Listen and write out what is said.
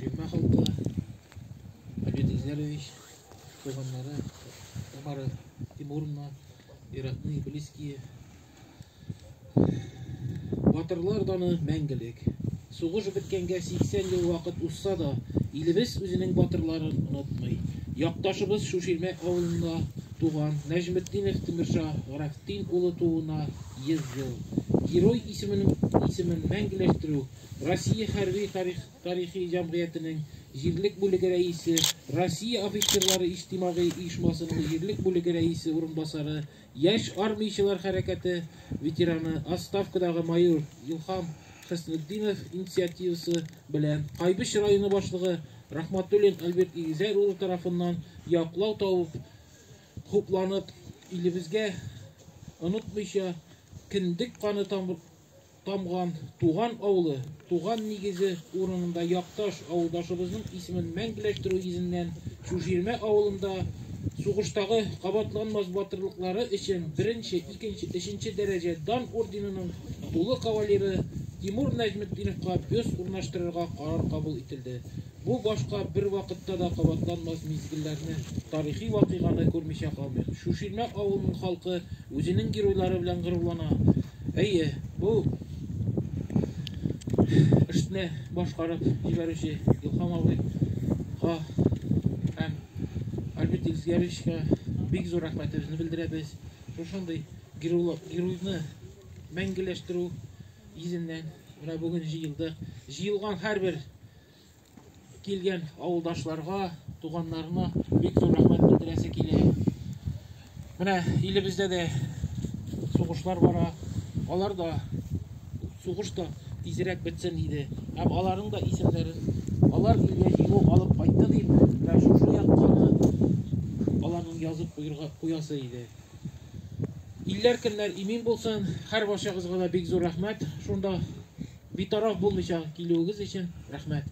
Фирма халкы, Абид Изярович, туганнары, Тамара Тимуровна, Иракны Иблиские. Батырлар даны мәңгелек. Сугыш беткәнгә 80 ел вакыт узса да, илебез үзенең батырларын онытмый. Якташыбыз Шуширмә авылында туган Нәҗметдинов Тимирша Графтин улы тууына 100 ел. Герой исемен, исемен мәңгеләштерү Россия хәрби тарихи җәмгыятенең җирлек бүлеге рәисе, Россия офицерлары иҗтимагый оешмасының җирлек бүлеге рәисе урынбасары, яшь армиячелар хәрәкәте ветераны, отставкадагы майор Илхам Хөснетдинов инициативасы белән Кайбыч районы башлыгы Рахматуллин Альберт Игезәр улы тарафыннан яклау табып, хупланып, илебезгә онытмыйча кендек каны тамыр Тамган, туган авылы, туган нигезе урынында якташ авылдашыбызның исемен мәңгеләштерү йөзеннән Чүжирмә авылында сугыштагы кабатланмас батырлыклары өчен беренче, икенче, өченче дәрәҗә дан орденының тулы кавалеры Тимур Нәҗметдиновка бюст урнаштырырга карар кабул ителде. Бу башка бер вакытта да кабатланмас мизгелләрне, тарихи вакыйганы күрмичә калмыйк. Шуширмә авылының халкы үзенең геройлары белән горурлана. Әйе, бу эшне башкарып җибәрүче Илһам абыйга һәм Альберт Илсгәревичка бик зур рәхмәтебезне белдерәбез. Шушындый геройны мәңгеләштерү йөзеннән менә бүген җыелдык. Җыелган һәрбер Килгән авылдашларга, туганнарына бик зур рәхмәт белдерәсе килә. Менә илебездә дә сугышлар бара. Алар да сугыш та тизрәк бетсен иде. Һәм аларның да исемнәрен алар илгә җиңү алып кайтты дип, менә шушы яктагы аларның язып куярга куясы иде. Илләр көннәр имин булсын. Хәр барчагызга да бик зур рәхмәт. Шунда битараф булмыйча килүегез өчен рәхмәт.